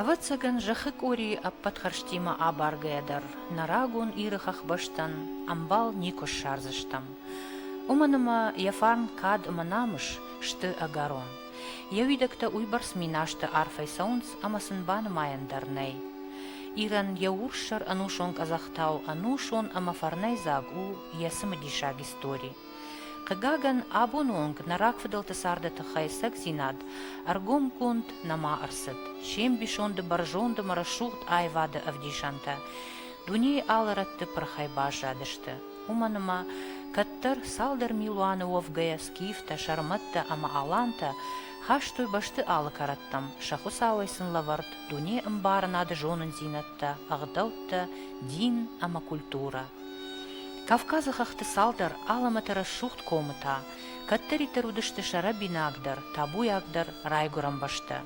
Ӕвӕццӕгӕн, зӕххы къорийы ӕппӕт хӕрзтимӕ абаргӕйӕ дӕр нӕ рагон Иры хӕхбӕстӕн ӕмбал никуы ссардзыстӕм. Уымӕн ӕмӕ йӕ фарн кад ӕмӕ намыс сты ӕгӕрон. Йӕ уидӕгтӕ уыйбӕрц минасты арфӕй цӕуынц, ӕмӕ сын банымайӕн дӕр нӕй. Ирӕн йӕ урссӕр ӕнусон къӕдзӕхтау ӕнусон ӕмӕ фӕрнӕйдзаг у йӕ цымыдисаг истори. Хъыгагӕн, абоны онг нӕ рагфыдӕлты царды тыххӕй цӕгдзинад ӕргомгонд нӕма ӕрцыд, се мбисонды бӕрзондым рӕсугъд аивады ӕвдисӕнтӕ дунейы алы рӕтты пырхӕй баззадысты, уымӕн ӕмӕ кӕддӕр цалдӕр милуаны уӕвгӕйӕ скифтӕ, сӕрмӕттӕ ӕмӕ алантӕ хастой бӕсты алы кӕрӕттӕм, сӕ Хуыцауӕй сын лӕвӕрд дуне ӕмбарынады зонындзинӕдтӕ, ӕгъдӕуттӕ, дин ӕмӕ культурӕ. Кавказы хӕхты цалдӕр алӕмӕты рӕсугъд комытӕ, кӕддӕриддӕр уыдысты сӕрӕбинагдӕр, табуйагдӕр райгуырӕн бӕстӕ.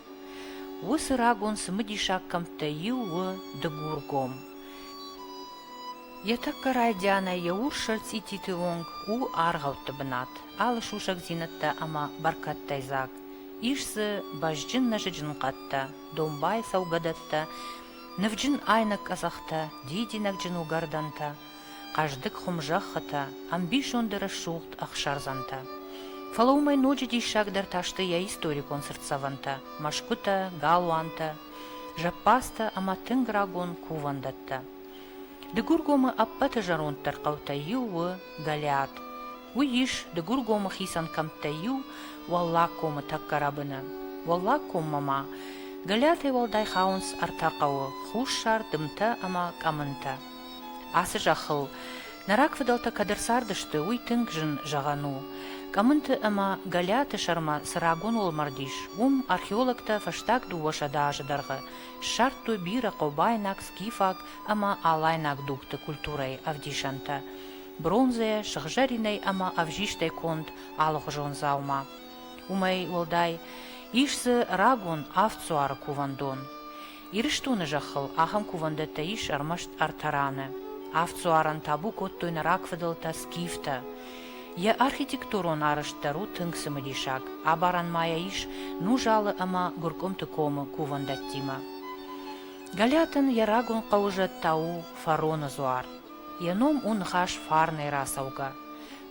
Уыцы рагон цымыдисаг кӕмттӕй иу у Дыгургом. Йӕ тӕккӕ райдианӕй йӕ урс сӕрцъититы онг у аргъӕутты бынат, алы сусӕгдзинӕдтӕ ӕмӕ бӕркӕдтӕй дзаг. Ис дзы бӕзджын нӕзыджын хъӕдтӕ, домбай цӕугӕдӕттӕ Нывджын айнӕг къӕдзӕхтӕ, дидинӕгджын уыгӕрдӕнтӕ, хъӕздыг хуымзӕххытӕ, ӕмбисонды рӕсугъд ӕхсӕрдзӕнтӕ. Фӕлӕ уымӕй ноджы диссагдӕр та сты йӕ историкон цыртдзӕвӕнтӕ, мӕсгуытӕ, галуантӕ, зӕппӕдзтӕ ӕмӕ тынг рагон кувӕндӕттӕ. Дыгургомы ӕппӕты зӕронддӕр хъӕутӕй иу у Гӕлиат. Уый ис Дыгургомы хицӕн кӕмттӕй иу, Уӕллаг комы тӕккӕ рӕбыны. Уӕллаг коммӕ ма Гӕлиатӕй уӕлдай хауынц ӕртӕ хъӕуы, хуссар, дымтӕ ӕмӕ къӕмынтӕ. Ацы зӕххыл нӕ рагфыдӕлтӕ кӕд ӕрцардысты, уый тынг зын зӕгъӕн у. Къӕмынты ӕмӕ Гӕлиаты сӕрмӕ цы рагон уӕлмӕрд ис, уым археологтӕ фӕстаг дыууӕсӕдӕ азы дӕргъы ссардтой бирӕ хъобайнаг, скифаг ӕмӕ алайнаг дугты культурӕйы ӕвдисӕнтӕ. бронзӕ, сыгъзӕринӕй ӕмӕ ӕвзистӕй конд алыгъуызон дзаума. Уымӕй уӕлдай, ис дзы рагон авд дзуары кувӕндон. Ирыстоны зӕххыл ахӕм кувӕндӕттӕ ис ӕрмӕст ӕртӕ раны. Авд дзуарӕн табу кодтой нӕ рагфыдӕлтӕ скифтӕ. Йӕ архитектурон арӕзт дӕр у тынг цымыдисаг, абарӕн ма йӕ ис Нузалы ӕмӕ Гуыркъуымты комы кувӕндӕттимӕ. Галиатӕн йӕ рагон хъӕуы зӕд та у Фароны дзуар. Йӕ ном у ныхас фарнӕй рацӕугӕ.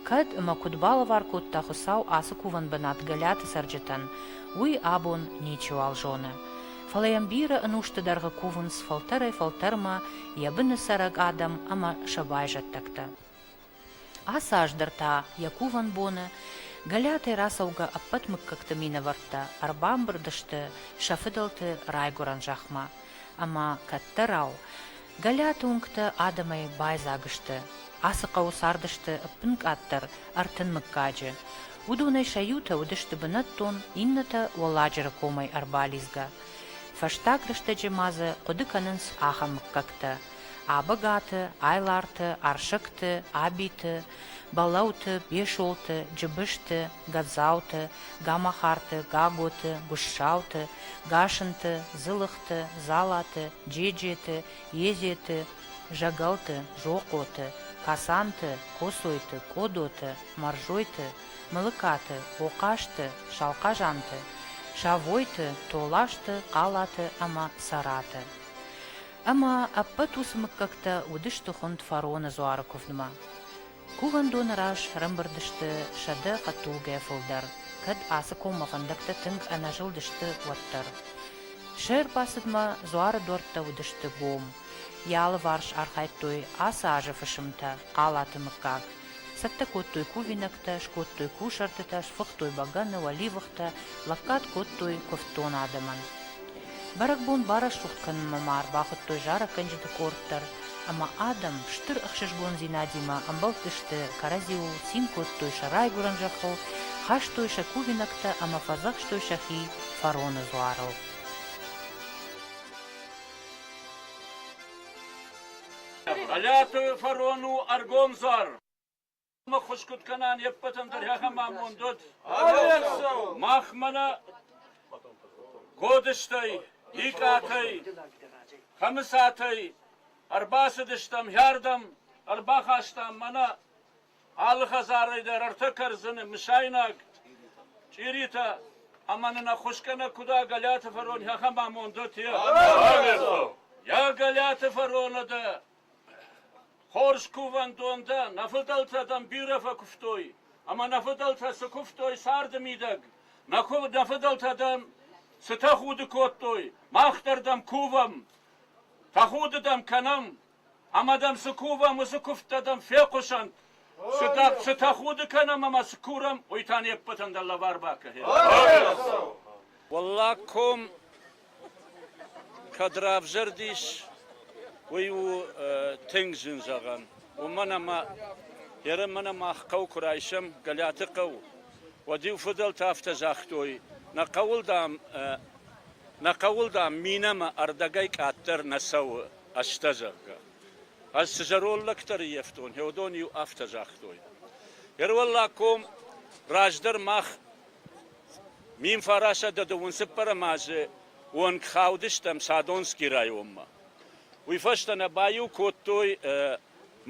Кӕд ӕмӕ куыд балӕвар кодта Хуыцау ацы кувӕн бынат Гӕлӕты цӕрджытӕн, уый абон ничиуал зоны. Фӕлӕ йӕм бирӕ ӕнусты дӕргъы кувынц фӕлтӕрӕй-фӕлтӕрмӕ йӕ быны цӕрӕг адӕм ӕмӕ сӕ байзӕддӕгтӕ. Ацы аз дӕр та йӕ кувӕн боны Гӕлӕтӕй рацӕугӕ ӕппӕт мыггӕгты минӕвӕрттӕ ӕрбамбырд сты сӕ фыдӕлты райгуырӕн зӕхмӕ ӕмӕ кӕддӕрау Галиаты уынгтӕ адӕмӕй байдзаг сты, ацы хъӕуы цардысты ӕппын къаддӕр ӕртын мыггаджы. Уыдонӕй сӕ иутӕ уыдысты бынӕттон, иннӕтӕ Уӕлладжыры комӕй ӕрбалидзгӕ. Фӕстаг рӕстӕджы ма дзы хъуыды кӕнынц ахӕм мыггӕгтӕ, Абӕгаты, Айларты, Арсӕгты, Абиты, Бӕлӕуты, Бесолты, Джыбызты, Гадзауты, Гамахарты, Гаготы, Гуыссауты, Гасынты, Дзылыхты, Залаты, Джеджеты, Езеты, Зӕгӕлты, Зохъоты, Касанты, Косойты, Къодоты, Мӕрзойты, Мылыкаты, Хохъазты, Салхъазанты, Савойты, Толазты, Хъалаты ӕмӕ Цӕраты. Ӕмӕ ӕппӕт уыцы мыггӕгтӕ уыдысты хуынд фароны дзуары куывдмӕ. Кувӕндоны раз ӕрӕмбырд сты сӕдӕ хъӕддулгӕ фылдӕр, кӕд ацы коммӕ фӕндӕгтӕ тынг ӕнӕзылдысты, уӕддӕр. Се рбацыдмӕ дзуары дуӕрттӕ уыдысты гом. Йӕ алыварс архайдтой ацы азы фысымтӕ, Хъалаты мыггаг. Цӕттӕ кодтой кувинӕгтӕ, скодтой кусӕртытӕ, сфыхтой бӕгӕны, уӕливыхтӕ, лӕггад кодтой куывддон адӕмӕн. Бӕрӕгбон барӕсугъд кӕнынмӕ ма ӕрбахуыдтой зарӕггӕнджыты къорд дӕр, ӕмӕ адӕм стыр ӕхсызгондзинадимӕ ӕмбӕлдтысты, кӕрӕдзиуыл цин кодтой сӕ райгуырӕн зӕххыл, хастой сӕ кувинӕгтӕ ӕмӕ фӕдзӕхстой сӕхи фароны дзуарыл. Мӕлӕты фарон у ӕргомдзар. Ӕххуыс куыд кӕнӕн, йе ппӕтӕн дӕр ахӕм амонд уӕд. Мах мӕнӕ Годыстӕй, Икъатӕй, Хӕмыцатӕй ӕрбацыдыстӕм хӕрдӕм, ӕрбахастам мӕнӕ алы хӕдзарӕй дӕр ӕртӕ кӕрдзыны, мысайнаг, чъиритӕ, ӕмӕ нын ӕххуыс кӕнӕ куыд а Гӕлиаты фарон, ахӕм амонд уӕд, йӕ! Йӕ Гӕлиаты фароны дӕ Хорз кувӕндон дӕ, нӕ фыдӕлтӕ дӕм бирӕ фӕкуывтой, ӕмӕ нӕ фыдӕлтӕ цы куывтой царды мидӕг, нӕ фыдӕлтӕ дӕм цы тӕхуды кодтой, мах дӕр дӕм кувӕм, тӕхуды дӕм кӕнӕм, ӕмӕ дӕм цы кувӕм, уыцы куывдтӕ дӕм фехъусӕнт, цы тӕхуды кӕнӕм ӕмӕ цы курӕм, уый та не ппӕтӕн дӕ лӕвар бакӕнӕм. Уӕллаг ком Кӕд равзӕрдис, уый у тынг зын зӕгъӕн. Уымӕн ӕмӕ Еремӕн мах хъӕу куы райсӕм Гӕлӕты хъӕу, уӕд-иу фыдӕлтӕ афтӕ загътой, нӕ хъӕуыл, дам, нӕ хъӕуыл, дам, минӕмӕ ӕрдӕгӕй къаддӕр нӕ цӕуы ӕстӕ, зӕгъгӕ. Ӕз цы зӕронд лӕгтӕ рыййӕфтон, Хеодон-иу афтӕ загътой. Йе рвӕллад ком раздӕр мах Мин фарасӕдӕды уын цыппӕрӕм азы онг хаудыстӕм Садонскийы районмӕ. Уый фӕстӕ нӕ баиу кодтой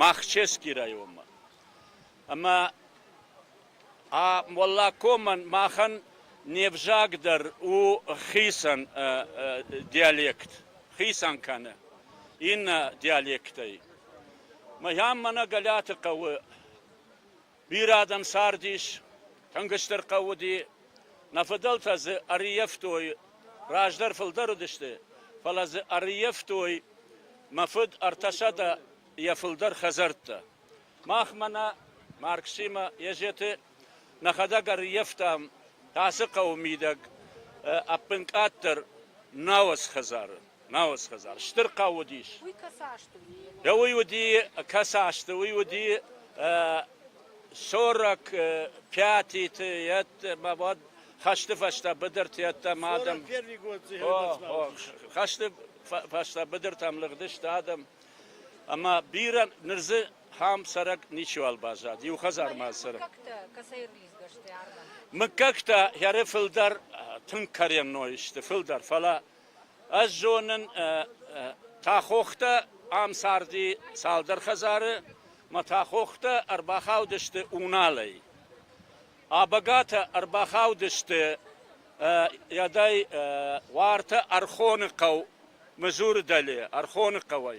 Махчевскийы районмӕ. Ӕмӕ Моллакомӕн махӕн не взаг дӕр у хицӕн диалект, хицӕн кӕны иннӕ диалектӕй. Мӕн мӕнӕ Гӕлӕты хъӕуы Бирӕ адӕм цардис, тынг стыр хъӕу уыди. Нӕ фыдӕлтӕ дзы ӕрыййӕфтой, раздӕр фылдӕр уыдысты, фӕлӕ дзы ӕрыййӕфтой. Мӕ фыд ӕртӕсӕдӕ йӕ фылдӕр хӕдзӕрттӕ. Махмӕ нӕ, Марксимӕ Езеты, нӕхӕдӕг ӕрыййӕфтам. Ацы хъӕуы мидӕг ӕппынкъаддӕр нӕу ӕз хӕдзары. Науы схӕдзар стыр хъӕу уыдис. Да уый уыди, кӕцы азты уый уыди 45-ты йеддӕмӕ уӕд хӕсты фӕстӕ быдырты йеддӕмӕ адӕм хӕсты фӕстӕ быдыртӕм лыгъдысты адӕм ӕмӕ бирӕ ныр дзы хӕм цӕрӕг ничиуал баззад иу хӕдзармӕ цӕрӕг мыггӕгтӕ хӕры фылдӕр тынг каренной сты фылдӕр фӕлӕ Ӕз зонын Тахохтӕ ам царди цалдӕр хӕдзары мӕ Тахохтӕ ӕрбахаудысты Уналӕй. Абагатӕ ӕрбахаудысты ӕдӕй уартӕ Ӕрхоны хъӕу, Мызуры дӕле, Ӕрхоны хъӕуӕй.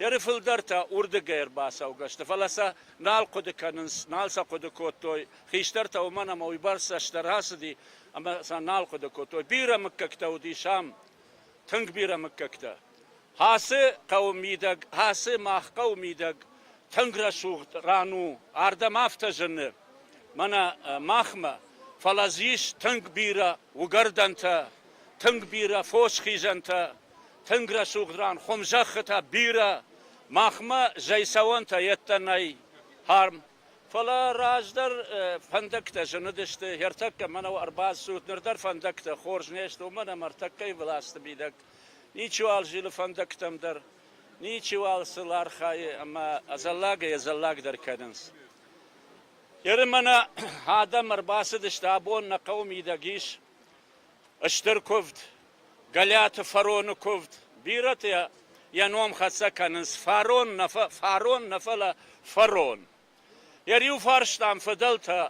Ӕрфылдӕр та уырдыгӕй ӕрбацӕугӕ сты, фӕлӕ сӕ нал хъуыды кӕнынц, нал сӕ хъуыды кодтой. Хистӕртӕ уымӕн ӕмӕ уыйбӕрц цӕстдӕр ацыди, ӕмӕ сӕ нал хъуыды кодтой. Бирӕ мыггӕгтӕ уыдис ам, тынг бирӕ мыггӕгтӕ. Ацы хъӕуы мидӕг, ацы мах хъӕуы мидӕг тынг рӕсугъд ран у, ардӕм афтӕ зыны мӕнӕ махмӕ, фӕлӕ дзы ис тынг бирӕ уыгӕрдӕнтӕ, тынг бирӕ фос хизӕнтӕ. Тынг рӕсугъд ран хуымзӕххытӕ бирӕ махмӕ зӕйцӕуӕнтӕ йедтӕ нӕй харм. Фӕлӕ раздӕр фӕндӕгтӕ зыныдысты. Ӕртӕккӕ мӕнӕу ӕрбацуд, ныр дӕр фӕндӕгтӕ хорз не сты, уымӕн ӕмӕ ӕртӕккӕйы власты мидӕг ничиуал зилы фӕндӕгтӕм дӕр, ничиуал сыл архайы ӕмӕ ӕдзӕллагӕй ӕдзӕллагдӕр кӕнынц. Ерымӕны адӕм ӕрбацыдысты, абон нӕ хъӕуы мидӕг ис стыр куывд. Гӕлӕты фароны куывд. Бирӕтӕ йӕ ном хӕццӕ кӕнынц фарон нӕ фарон нӕ фӕлӕ фарон. Йӕ риуфарстӕм фыдӕлтӕ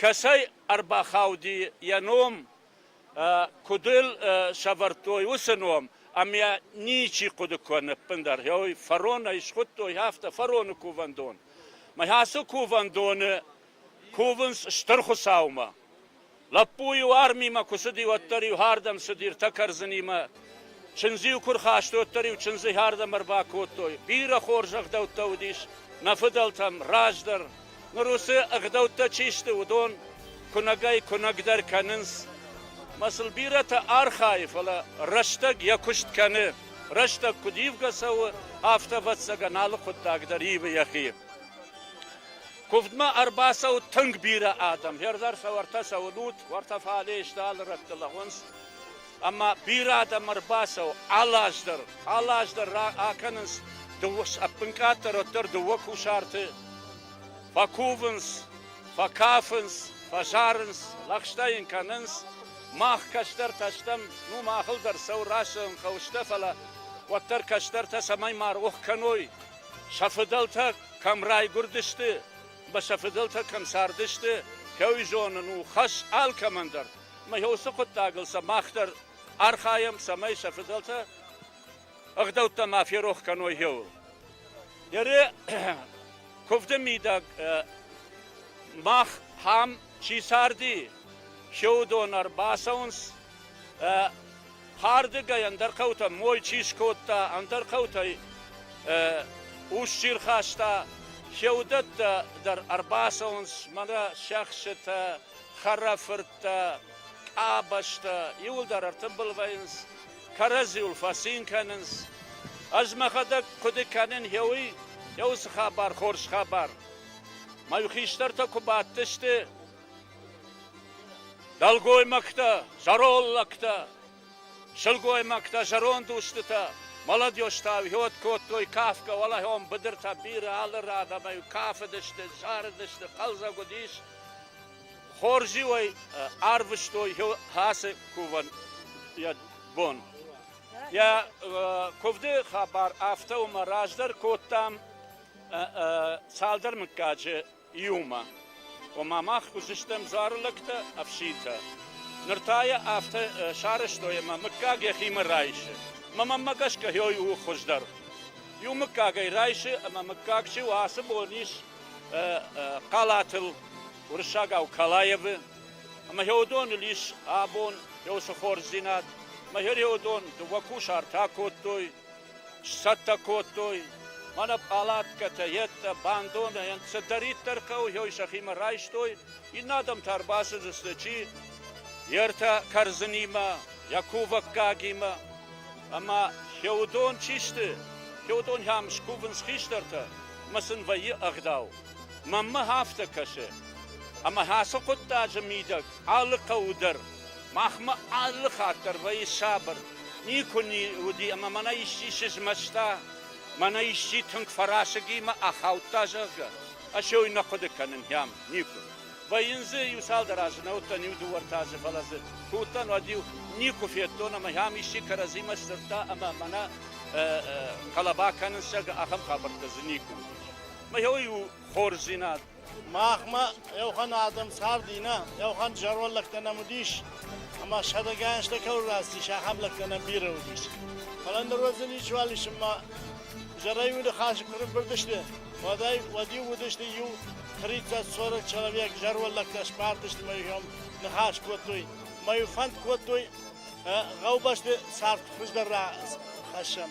кӕцӕй ӕрбахауди йӕ ном, куыд ыл сӕвӕрдтой, уыцы ном ӕм йӕ ничи хъуыды куы ныппындӕр, ой, фарон ӕй схуыдтой, афтӕ фароны кувӕндон. Мӕ ацы кувӕндоны кувынц Стыр Хуыцаумӕ. Лӕппу-иу армимӕ куы цыди, уӕддӕр-иу хӕрдӕм цыди ртӕ кӕрдзынимӕ. Чындз-иу куы рхаст, уӕддӕр-иу чындзы хӕрдӕм ӕрбакодтой. Бирӕ хорз ӕгъдӕуттӕ уыдис нӕ фыдӕлтӕм. Раздӕр, ныр уыцы ӕгъдӕуттӕ чи сты, уыдон куынӕгӕй-куынӕгдӕр кӕнынц. Мӕ сыл бирӕтӕ архайы, фӕлӕ рӕстӕг йӕ куыст кӕны. Рӕстӕг куыд ивгӕ цӕуы, афтӕ, ӕвӕццӕгӕн, алы хъуыддаг дӕр ивы йӕхи. Куывдмӕ ӕрбацӕуы тынг бирӕ адӕм. Хӕрзӕр сӕ уӕртӕ сӕ уынут, уӕртӕ фале сты, алы рӕтты лӕгъуынц. Ӕмӕ бирӕ адӕм ӕрбацӕуы алаз дӕр. Алаз дӕр акӕнынц дыууӕ ӕппынкъаддӕр, уӕддӕр дыууӕ кусарты. Фӕкувынц, фӕкафынц, фӕзарынц, лӕгъстӕ йын кӕнынц. Мах кӕстӕртӕ стӕм, ну махыл дӕр цӕуы рацӕуын хъӕуы, стӕ фӕлӕ уӕддӕр кӕстӕртӕ цӕмӕй ма рох кӕной, Сӕ фыдӕлтӕ кӕм райгуырдысты ӕмӕ сӕ фыдӕлтӕ кӕм цардысты, кӕуй зонын у хӕс алкӕмӕн дӕр. Ӕмӕ уыцы хъуыддагыл сӕ мах дӕр архайӕм, цӕмӕй сӕ фыдӕлтӕ ӕгъдӕуттӕ ма ферох кӕной иууыл. Ере куывды мидӕг мах ам чи царди, се уыдон ӕрбацӕуынц Хӕрдыгӕй ӕндӕр хъӕутӕ мой чи скодта, ӕндӕр хъӕутӕй ус чи рхаста, се уыдӕттӕ дӕр ӕрбацӕуынц мӕнӕ сӕхсытӕ, хӕрӕфырттӕ, къабӕзтӕ, иуылдӕр ӕртымбылвӕййынц, кӕрӕдзиуыл фӕцин кӕнынц. Ӕз мӕхӕдӕг хъуыды кӕнин хеуый, хеуы цы хабар хорз хабар. Мӕ хистӕртӕ куы бадтысты, Дӕлгоймӕгтӕ, зӕронд лӕгтӕ, сылгоймӕгтӕ, зӕронд устытӕ молодежтӕ ӕвгьуыд кодтой кафгӕ, уӕлӕхьон быдыртӕ бирӕ алы ран ӕмӕ кафыдысты, зарыдысты, хъӕлдзӕг уыдис. Хорз-иуӕй арвыстой ацы кувӕн йӕ бон. Йӕ куывды хабар афтӕ уымӕ раздӕр кодтам цалдӕр мыггаджы иумӕ. Ома мах уыдзыстӕм дзуары лӕгтӕ, ӕфситӕ. Ныр та йӕ афтӕ сарӕзтой, ӕмӕ мыггаг йӕхимӕ райсы. Мӕ мӕнмӕ гӕсгӕ хьой у хуыздӕр. Иу мыггаг ӕй райсы, ӕмӕ мыггаг чи у, ацы бон ис хъалатыл уырыссагау Калаевы, ӕмӕ хьоудоныл ис абон хьосы хорздзинад. Мӕ хьоудон дыууӕ кусарт акодтой, Сцӕттӕ кодтой мӕнӕ пъалаткӕтӕ, йедтӕ, бандонӕйӕн цыдӕриддӕр хъӕуы йой сӕхимӕ райстой, иннӕ адӕм та ӕрбацыдысты, чи йе ртӕ кӕрдзынимӕ, йӕ кувӕггагимӕ. Ӕмӕ феодон чи сты? Феодон йӕм скувынц хистӕртӕ, ӕмӕ сын вӕййы ӕгъдау. Мӕнмӕ афтӕ кӕсы, ӕмӕ ацы хъуыддаджы мидӕг алы хъӕуы дӕр Махмӕ алы хатт дӕр вӕййы сабыр, никуы уыди ӕмӕ мӕнӕ исчи сызмӕста, мӕнӕ исчи тынг фӕрасыг и мӕ ахаудта, зӕгъгӕ, ӕсёй нӕ хъуыды кӕнын йӕм никуы вӕййын. Дзы иу-цалдӕр азы нӕ уыдтӕн, иу-дыууӕ-ӕртӕ азы, фӕлӕ дзы куы уыдтӕн, уӕд-иу никуы федтон ӕмӕ йӕм исчи кӕрӕдзимӕ сдзырдта ӕмӕ мӕнӕ хъӕлӕба кӕнынц, зӕгъгӕ, ахӕм хабӕрттӕ дзы никуы уыдис. Мӕ иу хорздзинад Махмӕ еухан адӕм царди нӕ, еухан зӕронд лӕгтӕ нӕм уыдис, ӕма сӕдӕгӕнстӕ кӕуыл рацис, ахӕм лӕгтӕ нӕм бирӕ уыдис. Фӕлӕ ныр уӕдзӕн ничуал ис, ӕмӕ зӕрӕй уыдыхасы куы ныббырдысты, уӕдӕй уӕд-иу уыдысты иу 30-40 человек зӕронд лӕгтӕ сбадтысты мӕ иуӕм ныхас кодтой, мӕ-иу фӕнд кодтой гъӕубӕсты цард хуыздӕр рахӕссӕм.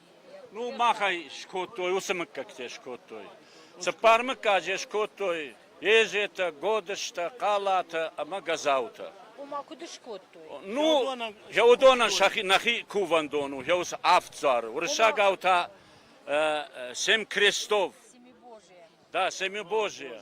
Ну, махӕй скодтой, уыцы мыггӕгтӕ скодтой. Цыппар мыггаджы скодтой езетӕ, годыстӕ, хъалатӕ ӕмӕ гӕзаутӕ. Ома куыд скодтой? Ну, йӕ уыдонӕн сӕхи нӕхи кувӕндон у, йӕ уыцы авд дзуары. Уырыссагау та семь крестов. Да, семибожие.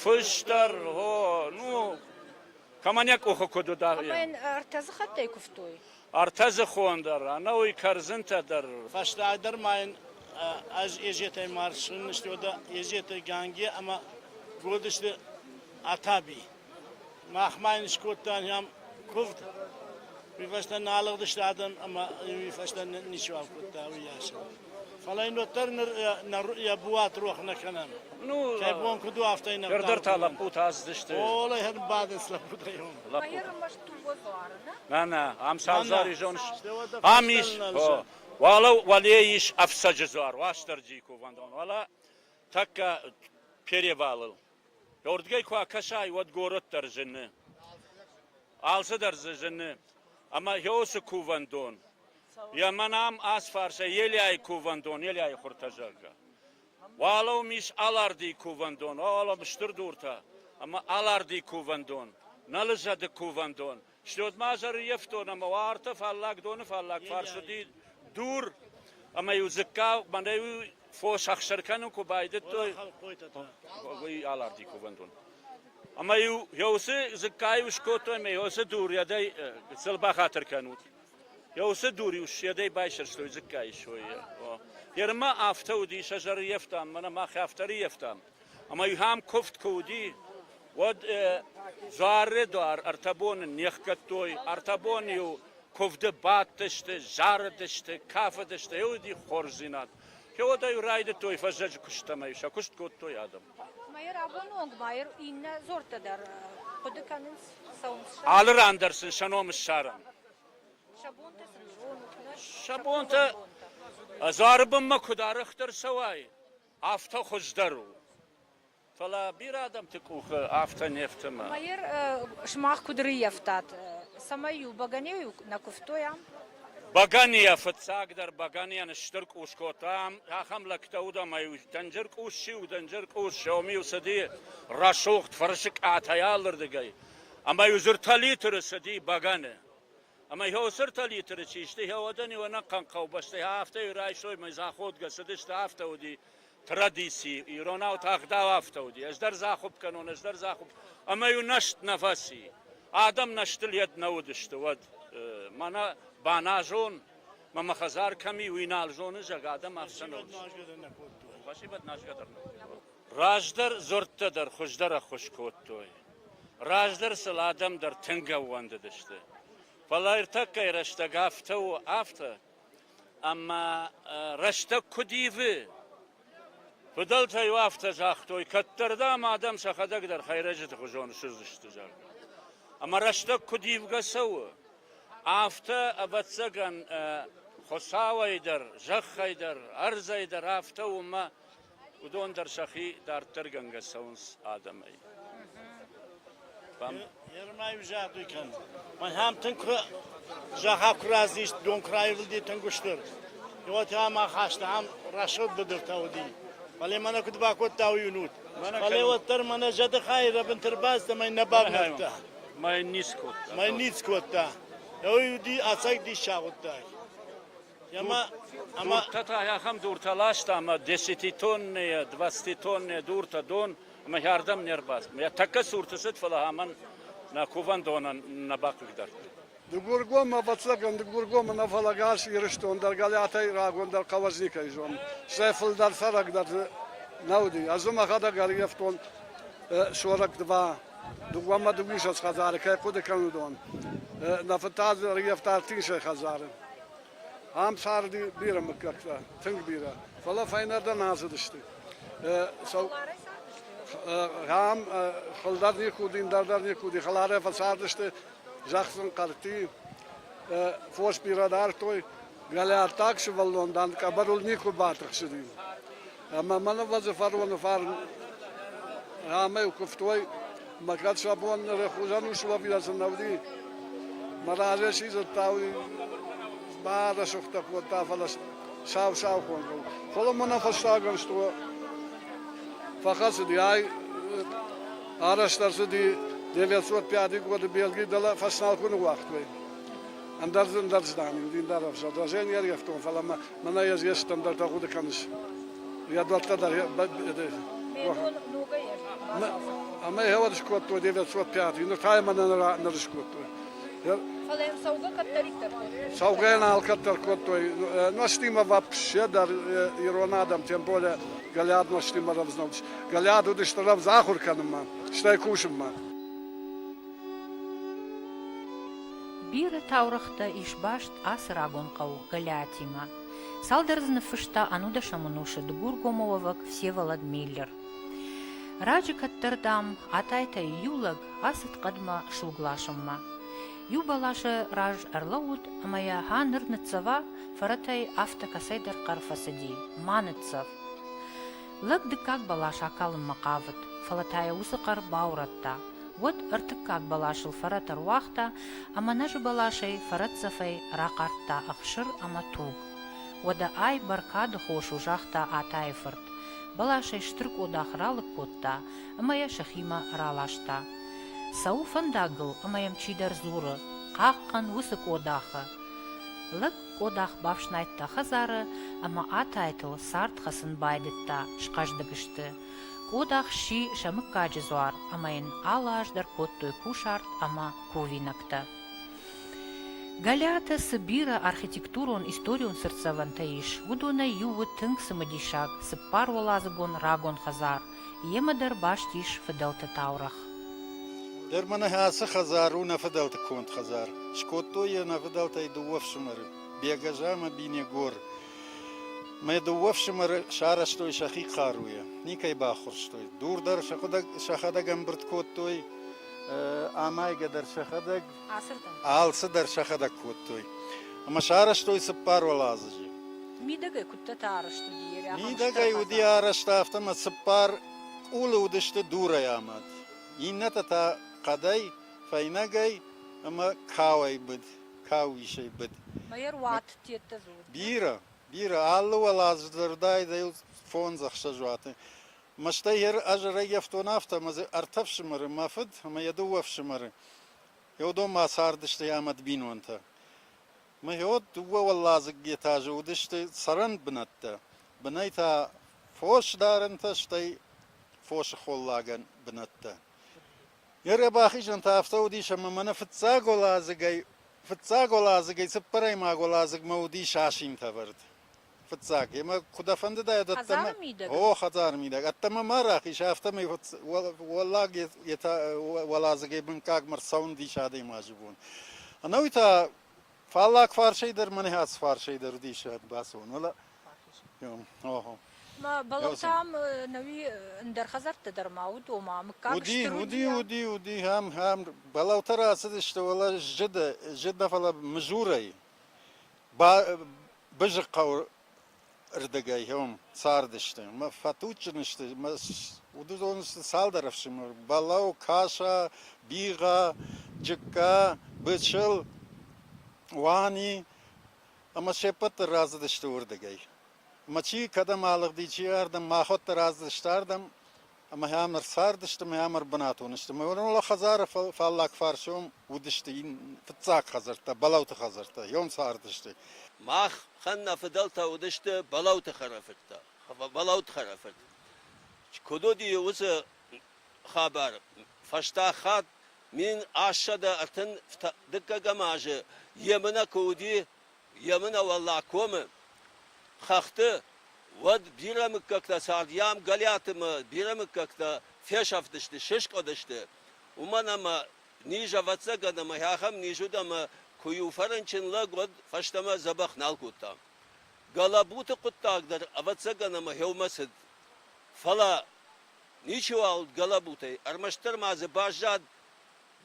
Фыстӕр, гъо, ну, кӕмӕн йӕ къухы куыд уыд, ахӕм. Ӕртӕ дзы хаттӕй куывтой? Ӕртӕ дзыхон дӕр, ӕнӕуый кӕрдзынтӕ дӕр. Фӕстӕдӕр ма йын ӕз Езетӕй марсын, сты уӕдӕ Езеты, Ганге ӕмӕ Годысты Атаби. Мах ма йын скодтан йӕм куывд, уый фӕстӕ нӕ алыгъдысты адӕм ӕмӕ уый фӕстӕ ничиуал кодта уыйас. Фӕлӕ йын уӕддӕр ныр йӕ буат рох нӕ кӕнӕм. Ну, кӕй бон куыд у, афтӕ йын Нырдӕр та лӕппутӕ аздзысты. О, лӕгӕн бадынц лӕппутӕ йӕм. Лӕппутӕ. Нана, ам саузари зоныс? Ам ис, хо. Уӕлӕ уӕле ис ӕфцӕджы дзуар, Уастырджийы кувӕндон, уӕлӕ тӕккӕ перевалыл. Рдгӕй куы акӕсай, уӕд горӕт дӕр зыны. Алцыдӕр дзы зыны. Ӕмӕ Иосы кувӕндон, йӕ мӕнӕм ац фарсӕй Елиайы кувӕндон, Елиайы хуртӕ, зӕгъгӕ. Уӕлӕ уым ис Алардийы кувӕндон, уӕлӕ стыр дуртӕ, ӕмӕ Аларди кувӕндон, нӕ лызӕды кувӕндон, Слётмӕ зӕрййӕфтон ӕма уа ӕртӕ фаллаг дони фаллаг фарс уыди дур, ӕмӕ-иу дзыкка мӕнӕ фос ӕхсыр кӕнын куы байдыдтой, уый аларди кувӕндон. Ӕмӕ-иу уыцы дзыккайы скодтой ӕмӕ уыцы дур йӕдӕй сыл бахатыр кӕнут. Йӕ уыцы дур-иу сӕдӕй байсӕрстой дзыккайы сойы. Ермӕ афтӕ уыди, сӕ зӕрййӕфтам, мӕнӕ мах афтӕ рййӕфтам. Ӕма ихӕм куфт ку уыди, уӕд дзуары дуар ӕртӕ боны не хгӕдтой. Ӕртӕ боны-иу куывды бадтысты, зарыдысты, кафыдысты. Е уыди хорздзинад. Феодӕ-иу райдыдтой фӕззӕджы куыстӕмӕ, сӕ куыст кодтой адӕм. Мӕйӕ рагоны онг ма иннӕ дзорттӕ дӕр хъуыды кӕнынц, цӕуынц сӕ. Алы ран дӕр сын сӕ ном ссарӕм. Сӕ бонтӕ сын зонут, нӕ? Сӕ бонтӕ дзуары бынмӕ куыд арӕхдӕр цӕуай, Афтӕ хуыздӕр у. Фӕлӕ бирӕ адӕмты къухы афтӕ не фтымы. Майер, сымах куыд рыййӕфтат, цӕмӕй-иу бӕгӕныйыл нӕ куывтой ам? Бӕгӕныйӕ, фыццагдӕр бӕгӕныйӕн стыр къус кодтам, ахӕм лӕгтӕ уыд ӕмӕ-иу дӕнджыр къус чи у, дӕнджыр къус, Xiaomi-йыл цыди рӕсугъд фӕрсыкъатӕй алырдыгӕй, ӕмӕ-иу зыртӕ литры цыди бӕгӕны. Ӕма еуцыртӕ литры чи сты, еуӕдӕн-еу ӕнӕхъӕн хъӕубӕстӕй афтӕ райсой мӕ заходгӕ, цыдысты, афтӕ уыди традици. Иронау тагъдау афтӕ уыди. Ӕз дӕр захуып кӕнон, ӕз дӕр захуып. Ӕмӕ-иу нӕст нӕ фӕци. Адӕм нӕстыл йед нӕ уыдысты уӕд. Мӕнӕ баназон, мӕ мӕ хӕдзар кӕм и, уый нал зоны зӕг, адӕм ӕхсӕн уыдысты. Спасибо, нажгӕ дӕр нӕ. Раздӕр дзуӕрттӕ дӕр хуыздӕр ӕххуыс кодтой. Раздӕр сыл адӕм дӕр тынг ӕууӕндыдысты. Фӕлӕ ӕртӕккӕйы рӕстӕг афтӕ у, афтӕ. Ӕмӕ рӕстӕг куыд ивы? Фыдӕлтӕ-иу афтӕ загътой, кӕддӕрдӕм адӕм сӕхӕдӕг дӕр хӕйрӕджыты хуызон ссыдзысты, зӕгъгӕ. Ӕмӕ рӕстӕг куыд ивгӕ цӕуы, афтӕ, ӕвӕццӕгӕн, Хуыцауӕй дӕр, зӕххӕй дӕр, ӕрдзӕй дӕр афтӕ уымӕ уыдон дӕр сӕхи дарддӕргӕнгӕ цӕуынц адӕмӕй. Ермӕй взӕдуй кӕн. Мӕнӕм тынг куы зӕххӕ куы разыст, дон куы раивылди тынг устыр. Уотӕ ма хаста ам рӕсугъд быдыртӕ уыди. Фӕлӕ мӕнӕ куыд бакодта уый уынут. Фӕлӕ уӕддӕр мӕнӕ зӕды хайы рӕбынты рбацыд ӕмӕ нӕ бавнӕлдта. Мӕй ниц кодта. Мӕй ниц кодта. Уый уыди ӕцӕг диссаг хъуыддаг. Дуртӕ та ахӕм дуртӕ ласта ӕмӕ десятитоннӕйӕ, двадцатитоннӕйӕ дуртӕ дон ӕмӕ хӕрдӕм не рбацыд. Йӕ тӕккӕ цурты цыд, фӕлӕ амӕн нӕ кувӕндонӕн нӕ бахъыгдардтой. Дыгургом, ӕвӕццӕгӕн, Дыгургомы нӕ, фӕлӕ гӕс Ирыстон дӕр Галиатӕй рагондӕр Кавазникӕй зон, сӕ фылдӕр цӕрӕг дӕр дзы нӕ уыди. Ӕз дзы мӕхӕдӕг ӕргӕвтон сорӕг дыва, дыууӕмӕ дыууиссӕдз хӕдзары кӕй хъуыды кӕн, уыдон. Нӕ фыдтӕ дзы ӕргӕвта ӕртинсӕй хӕдзары. Ам царды бирӕ мыггӕгтӕ тынг бирӕ, фӕлӕ фӕйнӕрдӕм ацыдысты. Ам хылдар никуы уыди, ӕндӕр дӕр никуы уыди, хӕларӕй фӕцардысты зӕхсын хъӕрти. Фос бирӕ дардтой, галиаттаг сывӕллон, дан, къӕбӕрыл никуы батыхсыди. Ӕмӕ мӕн ӕвӕдзы фароны фарн ӕмӕ йыл куывтой, мӕ кӕд сӕ бон ныры хуызӕн ус уӕ бирӕ сын нӕ уыди. Мӕ разӕй сидзырдта, уый барӕсугътӕ кодта, фӕлӕ сау-саухонгыл. Фӕлӕ мӕнӕ фӕстагӕн сто фӕхӕцыди, ай арӕзт ӕрцыди 905 годы Белги, дӕлӕ фӕсналкуыны уагътой. Ӕндӕр дзы ӕндӕр здӕн, дин дӕр ӕвзӕр. Даже не рйӕфтон, фӕлӕ мӕ Мӕнӕ ес ес стандартӕ гъуди кӕнис. Рядуӕттӕ дӕр Ӕма хеуӕд скодтой, девет цот пят, нур тайма нӕр скодтой. Фал ем цӕугӕ кӕддӕриддӕр кодтой? Цӕугӕ нӕ алкӕддӕр кодтой. Ноштимӕ вапкссе дӕр ирон адӕм, тем более Галиад ноштимӕ рӕвдзновдис. Галиад уыдысты рӕвдз ахуыр кӕнынмӕ, стӕй кусынмӕ. Бирӕ таурӕгътӕ ис баст ацы рагон хъӕу Галиатимӕ. Цалдӕр дзы ныффыста ӕнудӕсӕм ӕнусы дыгургомы уӕвӕг Всеволод Миллер. Раджы кӕддӕр, дам, Атайтӕй иу лӕг ацыд хъӕдмӕ суг ласынмӕ. Иу бӕласы раз ӕрлӕууыд ӕмӕ йӕ, «Ха, ныр ныццӕва!» фӕрӕтӕй афтӕ кӕцӕйдӕр хъӕр фӕцыди: «Ма ныццӕв!» Лӕг дыккаг бӕлас акалынмӕ хъавыд, фӕлӕ та йӕ уыцы хъӕр баурӕдта. Уӕд ӕртыккаг бӕласыл фӕрӕт ӕруагъта ӕмӕ нӕзы бӕласӕй фӕрӕтдзӕфӕй рахъардта ӕхсыр ӕмӕ тог. Уӕдӕ ай бӕркады хос у, загъта Атайы-фырт. Бӕласӕй стыр къодах ралыг кодта ӕмӕ йӕ сӕхимӕ раласта. Цӕуы фӕндагыл ӕмӕ йӕм чидӕр дзуры, Хъахъхъӕн уыцы къодахы! Лӕг Къодах бафснайдта хӕдзары ӕмӕ атайтыл цард хӕцын байдыдта, схъӕздыг сты. Къодах сси сӕ мыггаджы дзуар ӕмӕ йын алы аз дӕр кодтой кусарт ӕмӕ кувинӕгтӕ. Галиаты цы бирӕ архитектурон-историон сырддзӕвӕнтӕ ис, уыдонӕй иу у тынг цымыдисаг, цыппар уӕладзыгон рагон хӕдзар. Йемӕ дӕр баст ис фыдӕлты таурӕгъ. Дӕр мӕнӕ ацы хӕдзар у нӕ фыдӕлты конд хӕдзар. Скодтой йӕ нӕ фыдӕлтӕй дыууӕ фсымӕры, Бегаза ӕмӕ Бинегор. Мӕ дыууӕ фсымӕры сарӕзтой сӕхи хъаруйӕ, никӕй баххуырстой. Дур дӕр сӕхӕдӕг ӕмбырд кодтой, амайгӕ дӕр сӕхӕдӕг Ацырдӕм. Алцыдӕр сӕхӕдӕг кодтой. Ӕмӕ сарӕзтой цыппар уӕладзыджы. Мидӕгӕй куыдтӕ та арӕзт уыди? Йе рӕбын Мидӕгӕй уыди арӕзт, афтӕ ӕмӕ цыппар къулы уыдысты дурӕй амад. Иннӕтӕ та хъӕдӕй, фӕйнӕгӕй ӕмӕ кауӕй быд, кауисӕй быд. Ма йӕ руат, теттӕ дзы уыд. Бирӕ, бирӕ, алы уӕладзыджы дӕр уыдаид ӕй фондз-ӕхсӕз уаты. Мӕстӕй йӕ ӕз ӕрӕййӕфтон афтӕ, ӕмӕ дзы ӕртӕ фсымӕры, мӕ фыд ӕмӕ йӕ дыууӕ ӕфсымӕры. Иодонмӕ цардысты ӕмӕ ӕд бинонтӕ. Мыйод дыууӕ уӕладзыг этажы уыдысты цӕрӕн бынӕттӕ. Бынӕй та фос дарӕнтӕ, стӕй фосы холлагӕн бынӕттӕ. Йе рдӕг бахизӕн та афтӕ уыдис, ӕмӕ мӕнӕ фыццаг уӕладзыгӕй, фыццаг уӕладзыгӕй цыппӕрӕймаг уӕладзыгмӕ уыдис асинтӕвӕрд. Фыццаг, емӕ куы дӕ фӕндыдӕ ӕддӕмӕ... О, хӕдзары мидӕг. Ӕддӕмӕ ма рахиз, афтӕмӕй уӕллаг уӕладзыгӕй бынкъагмӕ рцӕуынд ис адӕймаджы бон. Ӕнӕуый та фаллаг фарсӕй дӕр мӕнӕ ацы фарсӕй дӕр уыдис бацуон, вӕлӕ? Охо. Бӕлӕттӕм нӕуи ӕндӕр хӕдзӕрттӕ дӕр ма уыд, ома мыггаг уыди, стыр уыди, уыди, уыди, ам, ам, бӕлӕуттӕ рацыдысты, вӕлӕ зыд, зыд, фӕлӕ мызурӕй. Бызыхъхъӕуы рдыгӕй уым цардысты. Мӕ фӕтуджджын сты. Мӕ уыдон сты цалдӕр ӕфсымӕр: Балау, Каша, Бигъа, Джыкка, Бычыл, Уани ӕмӕ се ппӕт дӕр рацыдысты уырдыгӕй. Ӕмӕ чи кӕдӕм алыгъди, чи ардӕм, мӕ ӕххуырдӕр ацыдысты ардӕм. ӕмӕ йӕм ӕрцардысты ӕмӕ йӕм ӕрбынатон сты. Мӕ уӕлӕ хӕдзары фаллаг фарсом уыдысты фыццаг хӕдзӕрттӕ, Балауты хӕдзӕрттӕ, йӕм цардысты. Мах хан нӕ фыдӕлтӕ уыдысты Балауты хӕрӕфырттӕ. Балауты хӕрӕфырт куыд уыди, уыцы хабар фӕстаг хатт мин ассӕдӕ ӕртын дыккӕгӕм азы Емынӕ куы уыди, Емынӕ Уӕллаг комы хӕхты, уӕд бирӕ мыггӕгтӕ цардйам Гӕлиаты ӕмӕ бирӕ мыггӕгтӕ фесӕфтысты, сыскъуыдысты, уымӕн ӕмӕ низ ӕвӕццӕгӕн ӕмӕ ахӕм низ уыд ӕмӕ куы у фӕрынчын лӕг, уӕд фӕстӕмӕ дзӕбӕх нал кодта. Гӕлӕбуты хъуыддаг дӕр ӕвӕццӕгӕн ӕмӕ гъеуымӕ цыд. Фӕлӕ ничиуал уыд гӕлӕбутӕй, ӕрмӕстдӕр ма дзы баззад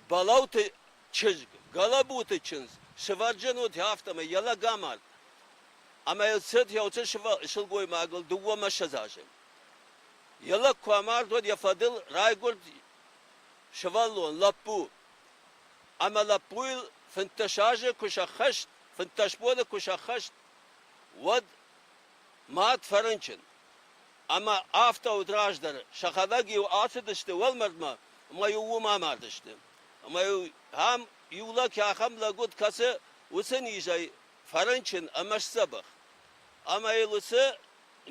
Балауты чызг, Гӕлӕбуты чындз, сывӕрджын уыд, афтӕмӕй йӕ лӕг амард. Ӕмӕ йыл цыд йӕ уыцы сылгоймагыл дыууӕ мӕсыдз азы. Йӕ лӕг куы амард, уӕд йӕ фӕдыл райгуырд сывӕллон, лӕппу. Ӕмӕ лӕппуйыл фынддӕс азы куы сӕххӕст, фынддӕс боны куы сӕххӕст, уӕд мад фӕрынчын. Ӕмӕ афтӕ уыд раздӕр. Сӕхӕдӕг-иу ацыдысты уӕлмӕрдмӕ ӕмӕ-иу уым амардысты. Ӕмӕ-иу ӕм иу лӕг ахӕм лӕг уыд, кӕцы уыцы низӕй фӕрынчын ӕмӕ сдзӕбӕх. Ӕмӕ йыл уыцы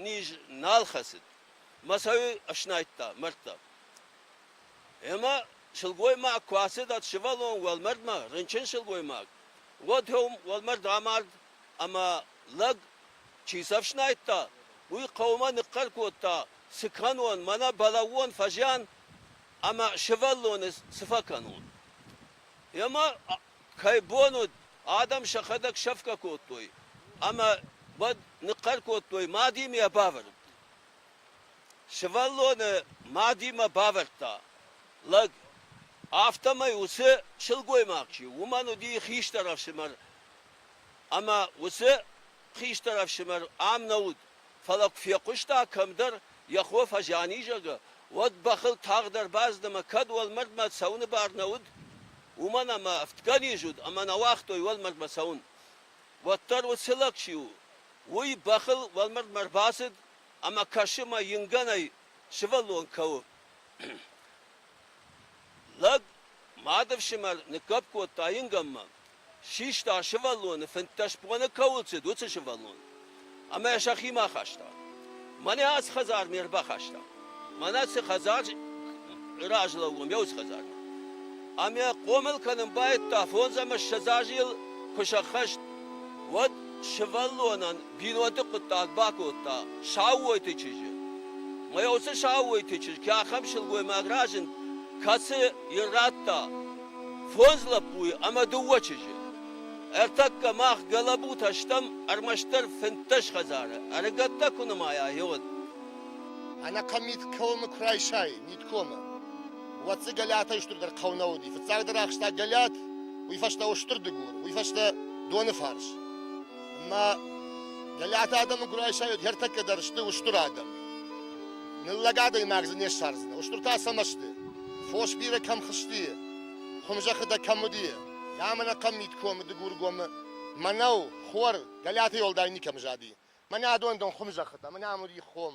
низ нал хӕцыд. Мӕ сӕ ыснайдта, мӕрдта. Ӕмӕ сылгоймаг куы ацыд ӕд сывӕллон уӕлмӕрдмӕ, рынчын сылгоймаг, уӕд уым уӕлмӕрд амард ӕмӕ лӕг чи сӕ фснайдта, уый хъӕумӕ ныхъхъӕр кодта, Цы кӕнон, мӕнӕ балӕууон фӕзиан ӕмӕ сывӕллоны цы фӕкӕнон? Йемӕ, кӕй бон уыд, адӕм сӕхӕдӕг сӕфгӕ кодтой ӕмӕ уӕд ныхъхъӕр кодтой, Мадимӕ йӕ бавӕрд! Сывӕллоны мадимӕ бавӕрдта лӕг, афтӕмӕй уыцы сылгоймаг чи у, уымӕн уыди хистӕр ӕфсымӕр Ӕмӕ уыцы хистӕр ӕфсымӕр ам нӕ уыд, фӕлӕ куы фехъуыста, кӕмдӕр йӕ хо фӕзӕни, зӕгъы, уӕд бӕхыл тагъд ӕрбацыд ӕмӕ кӕд уӕлмӕрдмӕ цӕуыны бар нӕ уыд, уымӕн ӕмӕ ӕфтгӕ низ уыд ӕмӕ нӕ уагътой уӕлмӕрдмӕ цӕуын. Уӕддӕр уыцы лӕг чи у, уый бӕхыл уӕлмӕрдмӕ ӕрбацыд ӕмӕ кӕсы мӕ ингӕнӕй сывӕллон кӕуы. Лӕг, мады фсымӕр, ныггӕпп кодта ингӕнмӕ Систа сывӕллоны фынддӕс боны кӕуыл цыд, уыцы сывӕллон. Ӕмӕ сӕхимӕ хаста. Мӕнӕ ац хӕдзар ме рбахаста. Мӕнӕ цы хӕдзар раз лӕууӕм, еу хӕдзар. Ӕмӕ хъомыл кӕнын байдыдта фондз ӕмӕ ссӕдз азйыл куы сӕххӕст, уӕд сывӕллонӕн бинонты хъуыддаг бакодта Саууойты чызджы. Мӕ уыцы Саууойты чызг ахӕм сылгоймаг разынд, кӕцы йын радта Фондз лӕппуйы ӕмӕ дыууӕ чызджы. Ӕртӕккӕ мах гӕлӕбутӕ стӕм ӕрмӕстдӕр фынддӕс хӕдзары, ӕрыгӕттӕ куы нымайа, иуд. Ӕнӕхъӕн мит комы куы райсай, миткомы, уӕд дзы Гӕлӕтӕй стырдӕр хъӕу нӕ уыди. Фыццагдӕр ахста Гӕлӕт, уый фӕстӕ устыр дыгур, уый фӕстӕ доныфарс. Ӕмӕ Гӕлӕты адӕмы куы райсай, уӕд йе ртӕккӕ дӕр сты устыр адӕм. Ныллӕг адӕймаг дзы не ссардзынӕ. Устыр та цӕмӕ сты? Фос бирӕ кӕм хызти, хуымзӕххы дӕ кӕм уыди, ӕмӕ нӕхъӕн мидкомы Дыгургомы мӕнӕу, хор Галиаты Елдай никӕм зади. Мӕнӕ адон дон хуымзӕххытӕ, мӕнӕ ам уыди хом.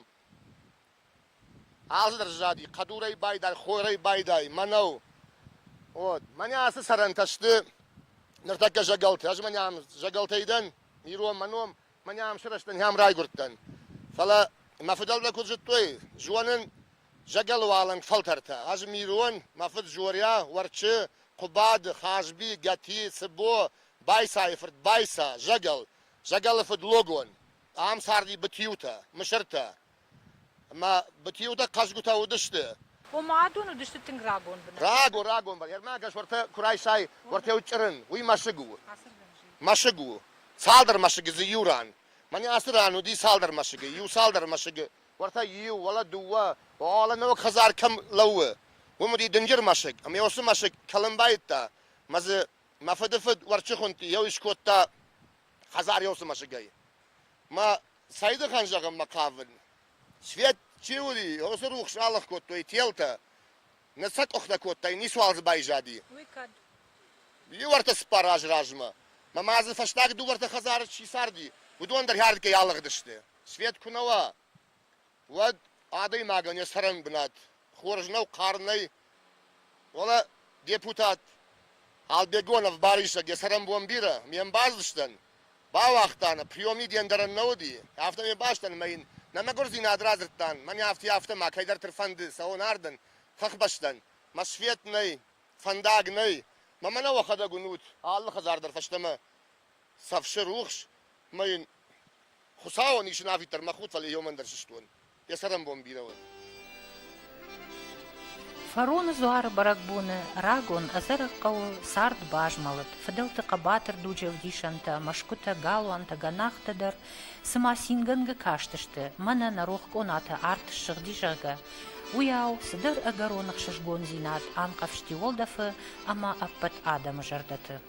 Алцыдӕр зади, хъӕдурӕй байдай, хорӕй байдай, мӕнӕу. От, мӕнӕ ацы сӕрӕнтӕ сты ныртӕккӕ зӕгӕлтӕ. Ӕз мӕнӕ ам зӕгӕлтӕй дӕн, ирон мӕ ном, Мӕн ам сырӕзтӕн, ам райгурдтӕн. Фӕлӕ мӕ фыдӕлтӕ куыд зыдтой, зонын зӕгӕлы уалынг фӕлтӕртӕ. Ӕз мирон, мӕ фыд Жоря, Уӕрчы, Хъуыбады, Хазби, Гӕти, Цыбо, Байсайы фырт Байса, зӕгӕл, зӕгӕлы фыд Логон. Ам царди бытиутӕ, мысыртӕ. Ӕмӕ бытиутӕ хъазгуытӕ уыдысты. Ома адон уыдысты тынг рагон бынат. Рагон, рагон бынат. Ӕрмӕгӕс уӕртӕ куы райсай, уӕртӕ уыд чъырын, уый мӕсыг у. Мӕсыг у. Цалдӕр мӕсыгы дзы иу ран. Мӕнӕ ацы ран уыди цалдӕр мӕсыгы, иу цалдӕр мӕсыгы, уӕртӕ иу, уӕлӕ дыууӕ, уӕлӕ ног хӕдзар кӕм лӕууы, уым уыди дынджыр мӕсыг, ӕмӕ уыцы мӕсыг кӕлын байдыдта, мӕ дзы мӕ фыдыфыд Уӕрчыхъуынты йӕ ус кодта хӕдзариосы мӕсыгӕй. Мӕ сӕйдыхӕн зӕгъынмӕ хъавын, свет чи уыди, уыцы рухс алых кодтой телтӕ. Ныр сӕ къухтӕ кодтай, ницуал дзы байзади. Уый кӕд? Иу ӕртӕ цыппар азы размӕ мӕ ма дзы фӕстаг дыууӕ-ӕртӕ хӕдзары чи царди, уыдон дӕр хӕрдгӕй алыгъдысты. Свет куы нӕ уа, уӕд адӕймагӕн йӕ цӕрӕн бынат хорз нӕу, хъӕр нӕй. Фӕлӕ депутат Албегонов Барисӕг йӕ цӕрӕнбон бирӕ ме мбӕлдзыстӕн бауагъта, нӕ приемник де ндӕрӕн нӕ уыди, афтӕ ме бӕстӕн мӕ йын нӕ мӕгуырдзинад радзырдтан, мӕн афтӕ, афтӕ ма кӕйдӕрты фӕнды цӕуон ардӕн, фӕхбӕстӕн. Мӕ свет нӕй, фӕндаг нӕй, мӕмӕ нӕ уӕхӕдӕг уынут, алы хӕдзар дӕр фӕстӕмӕ Сӕфсы рухс мӕ йын Хуыцауӕн исын афиддӕр мӕ худ, фӕлӕ иомӕн дӕр сыстон. Йӕ цӕрӕнбон бирӕ уӕд. Фароны дзуары бӕрӕгбоны рагон ӕдзӕрӕг хъӕуы цард базмӕлыд. Фыдӕлты хъӕбатыр дуджы ӕвдисӕнтӕ, мӕсгуытӕ, галуантӕ, гӕнахтӕ дӕр цыма цингӕнгӕ кастысты, мӕнӕ нӕ рох къонаты арт ссыгъди, зӕгъгӕ, уыйау цыдӕр ӕгӕрон ӕхсызгондзинад анхъӕвзти уӕлдӕфы ӕмӕ ӕппӕт адӕмы зӕрдӕты.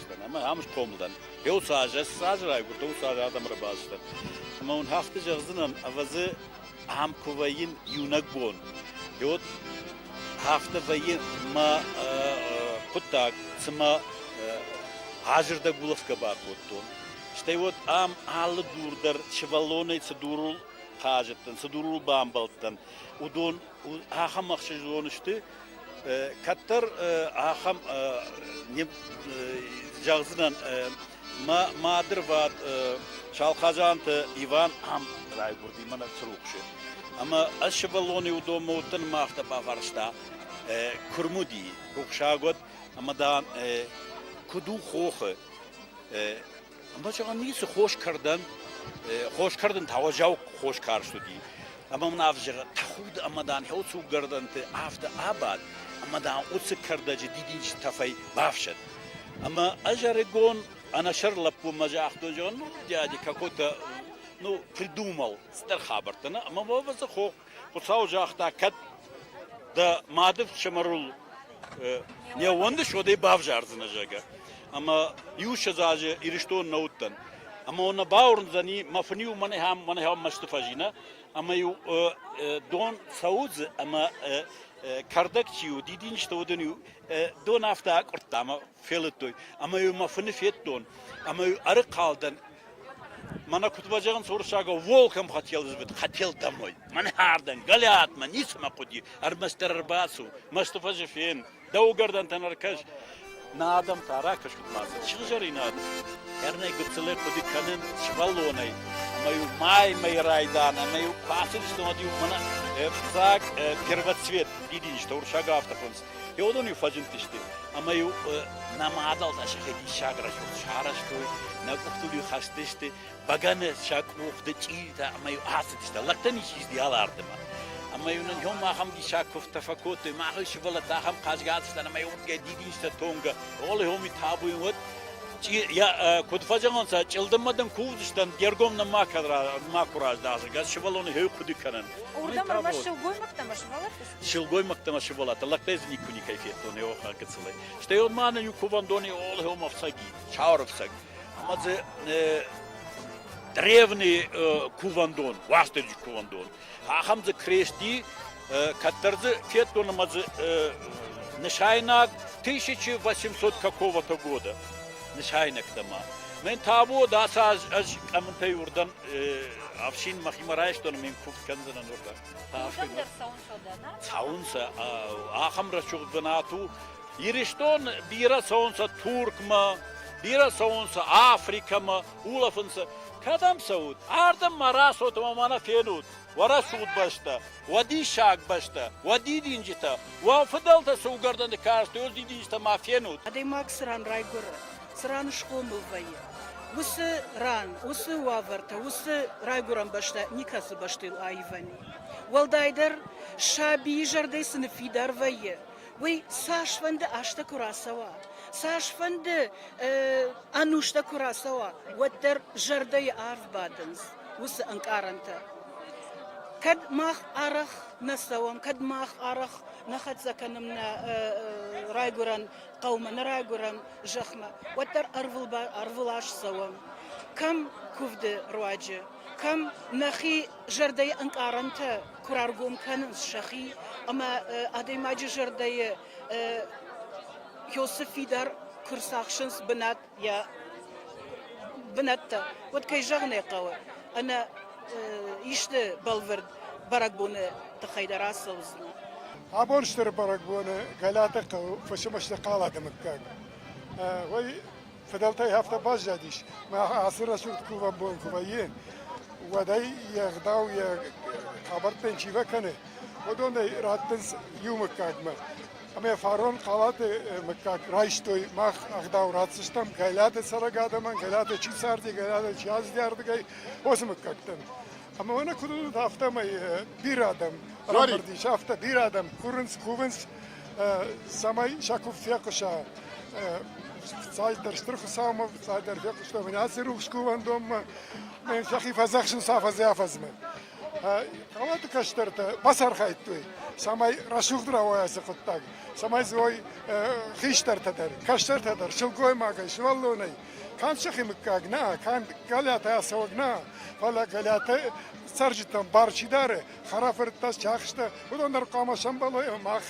райгуырдыстӕн ӕмӕ ам схъомыл дӕн. Йӕ уыцы аз, ӕз цы азы райгуырдтӕн, уыцы азы адӕмы ӕрбацыдӕн. Ӕмӕ уын хӕхты зӕгъдзынӕн, ӕвӕдзы, ам куы вӕййын иунӕг бон. Йод афтӕ вӕййы мӕ хъуыддаг, цыма азырдӕг улӕфгӕ бакодтон. Стӕй уӕд ам алы дур дӕр сывӕллонӕй цы дурыл хъазыдтӕн, цы дурыл бамбӕлдтӕн, уыдон ахӕм ӕхсӕзон сты, кӕддӕр ахӕм зӕгъдзынӕн мӕ мадырвад Салхазанты Иван ам райгуырди мӕнӕ Црухсы. Ӕмӕ ӕз сывӕллоны уыдонмӕ уыдтӕн мӕ афтӕ бафарста курмуди рухсагуат ӕмӕ дам куыд у хохы Ӕмӕ зӕгъӕн ницы цы хос кӕрдӕн, хос кӕрдын та уӕззау хос карст уыди. Ӕмӕ мын ӕвзӕры тӕхуд ӕмӕ дӕн хӕуцуггӕрдӕнты афтӕ абад, ӕмӕ дӕн уыцы кӕрдӕджы дидинджыты тӕфӕй бафсӕд. Ӕмӕ ӕз ӕрыгон ӕнӕсӕр лӕппумӕ загътон, зӕгъын, ну, дядя какой-то, ну, придумал стыр хабӕрттӕ, ӕмӕ ӕвӕдзы хох Хуыцау загъта, кӕд дӕ мады фсымӕрыл не ууӕндыс, уӕд ӕй бавзардзынӕ, зӕгъгӕ. Ӕмӕ иуссӕдз азы Ирыстон нӕ уыдтӕн. Ӕмӕ уын бауырндзӕни, мӕ фын-иу мӕнӕхӕм мӕнӕхӕм мӕсты фӕзина, ӕмӕ-иу дон цӕудзы ӕмӕ кӕрдӕг чи у, дидинджытӕ уыдон-иу дон афтӕ акъуырдта ӕмӕ фелыдтой. Ӕмӕ-иу мӕ фыны федтон, ӕмӕ-иу ӕрыхъал дӕн Мӕнӕ куыд базӕгъынц уырыссагау, волком хотел звать, хотел домой. Мӕнӕ ардӕм, галиатмӕ, ницыма хъуыди, ӕрмӕстдӕр ӕрбацу, мӕсты фӕзы фен, дӕу гӕрдӕнтӕн ӕркӕс. Нӕ адӕм та ракӕсут мацӕ, сыгъзӕринаг. Ӕрнӕй гыццылӕй хъуыды кӕнын сывӕллонӕй, ӕмӕ-иу маймӕйы райдан, ӕмӕ-иу куы ацыдыстӕм, уӕд-иу мӕнӕ ӕцӕг первоцвет дидинджытӕ, уырыссаг афтӕ хъуынц. Иодон-иу фӕзындысты, ӕмӕ-иу нӕ мадзалтӕ сӕхи диссаг рӕсугъд сарӕзтой, нӕ къухтыл-иу хӕцыдысты бӕгӕны сӕ къухты чъиритӕ, ӕмӕ-иу ацыдысты, лӕгтӕн ис издиал ардӕмӕ. Ӕмӕ-иу нын иом ахӕм диссаг куывдтӕ фӕкодтой, махӕй сывӕллӕттӕ ахӕм хъазгӕ ацыдтӕн, ӕмӕ-иу дидинстӕ тонгӕ, оле хоми табуйын уӕд, куыд фӕзӕгъынцӕ, чъылдыммӕ дын кувдзыстӕн, де ргом нын макуы раздахы, сывӕллоны хей хъуыды кӕнын. Уырдӕм ӕрмӕст сылгоймӕгтӕ ӕмӕ сывӕллӕтты силгоймӕгтӕмӕ сывӕллӕттӕ лӕгтӕй дзы никуы никӕй федтон еохӕ гыцылӕй. Стӕй ӕ ма нӕ иу кувӕндони олгьеум ӕфцӕги, саурӕфцӕг. Ӕма дзы древний кувӕндон, уастырджи кувӕндон, ахӕм дзы крести, кӕддӕр дзы федтон ӕмӕ дзы нысайнаг 1800 какого-то года нысайнӕгтӕмӕ. Мен тавод ацы аз ӕз къӕмынтӕй уырдӕн ӕфсин мӕхимӕ райстон ӕмӕ йын куывд кӕндзынӕн уырдӕм. Цӕуын сӕ ахӕм рӕсугъд бынат у Ирыстон бирӕ цӕуынц Туркмӕ, бирӕ цӕуынц Африкӕмӕ, улӕфынц. Кӕдӕм цӕут? Ардӕм ма рацут ӕмӕ ма нӕ фенут. Уӕ рӕсугъд бӕстӕ, уӕ диссаг бӕстӕ, уӕ дидинджытӕ, уӕ фыдӕлтӕ цы уыгӕрдӕны кастой, уыцы дидинджытӕ ма фенут. Адӕймаг цы ран райгуыры, цы ран схъомыл вӕййы, уыцы ран, уыцы уавӕртӕ, уыцы райгуырӕн бӕстӕ никӕцы бӕстӕйыл аивӕн у. Уӕлдайдӕр, сабийы зӕрдӕ цы ныффидар вӕййы, уый цасфӕнды азтӕ куы рацӕуа, цасфӕнды ӕнустӕ куы рацӕуа, уӕддӕр зӕрдӕйы арв бадынц уыцы ӕнкъарӕнтӕ. Кӕд мах арӕх нӕ цӕуӕм, кӕд мах арӕх нӕ хӕццӕ кӕнӕм нӕ райгуырӕн хъӕумӕ нӕ райгуырӕм зӕхмӕ, уӕддӕр ӕрвылаз цӕуӕм. Кӕм куывды руаджы, кӕм нӕхи зӕрдӕйы ӕнкъарӕнтӕ куы раргом кӕнынц сӕхи, ӕмӕ адӕймаджы зӕрдӕйы Иосифи дӕр куы рцахсынц бынат, йӕ бынӕттӕ, уӕд, кӕй зӕгъын ӕй хъӕуы, ӕнӕ исты бӕлвырд бӕрӕгбоны тыххӕй дӕр ацӕудзынӕ. Абон стыр бӕрӕгбоны Гӕлӕты хъӕуы фысымы сты хъалады мыггаг. Уый фыдӕлтӕй афтӕ баззадис, мах ацы рӕсугъд кувӕн бон куы вӕййы, уӕд ӕй йе гъдау, йӕ къӕбӕрттӕн чи фӕкӕны, уыдонӕй раттынц иу мыггагмӕ. ӕмӕ фарон Хъалаты мыггаг райстой. Мах ӕгъдау ратдзыстӕм Гӕлиаты цӕрӕг адӕмӕн, Гӕлиаты чи царди, Гӕлиаты чи аздӕрдыгӕй, уыцы мыггӕгтӕн. Ӕмӕ уӕнӕ куыд уыд, афтӕмӕй бирӕ адӕм рамбырд ис, афтӕ бирӕ адӕм курынц, кувынц, цӕмӕй сӕ кув фехъуса. Цалдӕр стыр Хуыцаумӕ, цалдӕр фехъуыстам аци рухс кувӕндонмӕ, сӕхи фӕдзӕхсынц афӕдзӕй афӕдзмӕ. Калаты кӕстӕртӕ бацархайдтой, цӕмӕй рӕсугъд рауайа ацы хъуыддаг, цӕмӕй дзы уой хистӕртӕ дӕр, кӕстӕртӕ дӕр, сылгоймагӕй, сывӕллонӕй. Канд сӕхи мыггаг нӕ, канд Галиатӕ ацӕуӕг нӕ, фӕлӕ Галиатӕ цӕрджытӕн бар чи дары, хӕрӕфырттӕ, чахстӕ, уыдон дӕр хъуамӕ сӕмбӕлой ӕмӕ мах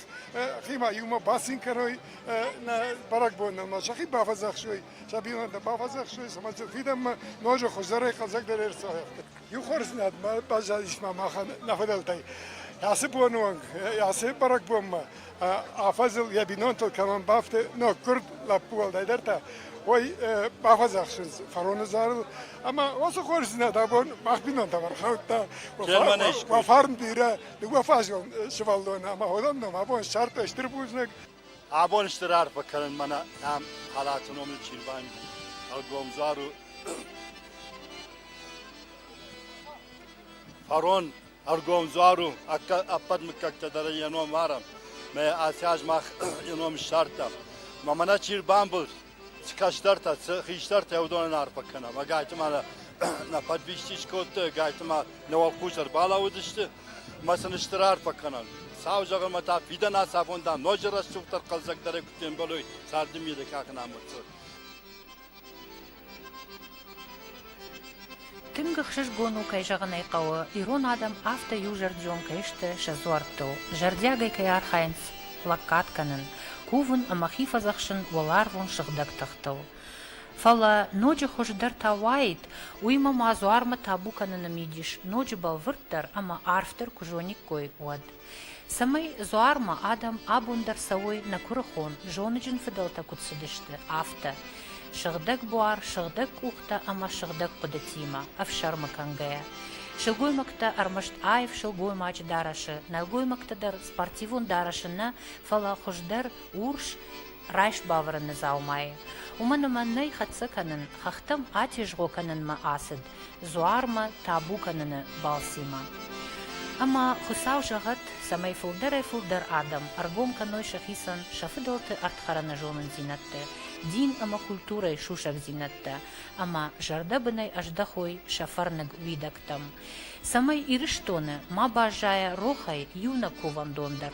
химӕ иумӕ бацин кӕной нӕ бӕрӕгбонмӕ, сӕхи бафӕдзӕхсой, сӕ бинонтӕ бафӕдзӕхсой, цӕмӕй фидӕнмӕ ноджы хуыздӕрӕй, хъӕлдзӕгдӕрӕй ӕрцауӕгътой. Иухорздзинадмӕ баззадисмӕ махӕн нӕ фыдӕлтӕй ацы боны онг, ацы бӕрӕгбонмӕ афӕдзыл йӕ бинонтыл кӕмӕн бафты ноггуырд лӕппу уӕлдайдӕр та, уой бафӕдзӕхсынц фароны зарыл. Ӕмӕ уыцы хорздзинад абон мах бинонтӕм ӕрхаудта. Уӕ фарн бирӕ, дыууӕфазон сывӕллоны ӕмӕ уыдон ном абон ссардтой стыр бузныг. Абон стыр арфӕ кӕнын мӕнӕ ам халаты номыл Чирванди ӕлгомдзару фарон ӕргомдзару ӕппӕт мыггӕгтӕ дӕр йӕ ном арам, мӕ асӕз мах йӕ ном ссардтам. Ма мӕнӕ чи рбамбылд, Цы кӕсдӕртӕ, цы хистӕртӕ уыдонӕн арфӕ кӕнӕм. Ӕгайты ма нӕ фӕдвисти скодтой, ӕгайты ма нӕ уӕлхъус ӕрбалӕууыдысты. Ма сын стыр арфӕ кӕнӕм. Сау зӕгъынмӕ та фидӕн ацафон, дам, ноджы рӕсугъддӕр хъӕлдзӕгдӕрӕй куыд фембӕлой царды мидӕг ахын амындзы. Тынг ӕхсызгон у, кӕй зӕгъын ӕй хъӕуы, ирон адӕм афтӕ иузӕрдион кӕй сты сӕ дзуӕрттыл, зӕрдиагӕй кӕй архайынц лӕггад кӕнын, кувын ӕмӕ хи фӕдзӕхсын уӕларвон сыгъдӕг тыхтыл. Фӕлӕ ноджы хуыздӕр та уаид, уыимӕ ма дзуармӕ табу кӕныны мидис ноджы бӕлвырддӕр ӕмӕ арфдӕр куы зониккой, уӕд. Цӕмӕй Дзуармӕ адӕм абон дӕр цӕуой нӕ куырыхон, зоныджын фыдӕлтӕ куыд цыдысты, афтӕ, сыгъдӕг буар, сыгъдӕг къухтӕ ӕмӕ сыгъдӕг хъуыдытимӕ, ӕфсӕрмы кӕнгӕйӕ. Сылгоймӕгтӕ ӕрмӕст аив сылгоймаджы дарӕсы, нӕлгоймӕгты дӕр спортивон дарӕсы нӕ, фӕлӕ хуыздӕр, урс, райст бавӕрыны дзаумайы. Уымӕн ӕмӕ нӕй хӕццӕ кӕнын хӕхтӕм атезгъо кӕнынмӕ ацыд дзуармӕ табу кӕныны балцимӕ. Ӕмӕ Хуыцау зӕгъӕд, цӕмӕй фылдӕрӕй-фылдӕр адӕм ӕргом кӕной сӕхицӕн сӕ фыдӕлты ӕрдхӕрӕнӕзонындзинӕдтӕ, дин ӕмӕ культурӕйы сусӕгдзинӕдтӕ ӕмӕ зӕрдӕбынӕй ӕздӕхой сӕ фӕрныг уидӕгтӕм, цӕмӕй Ирыстоны ма баззайа рохӕй иу нӕ кувӕндон дӕр.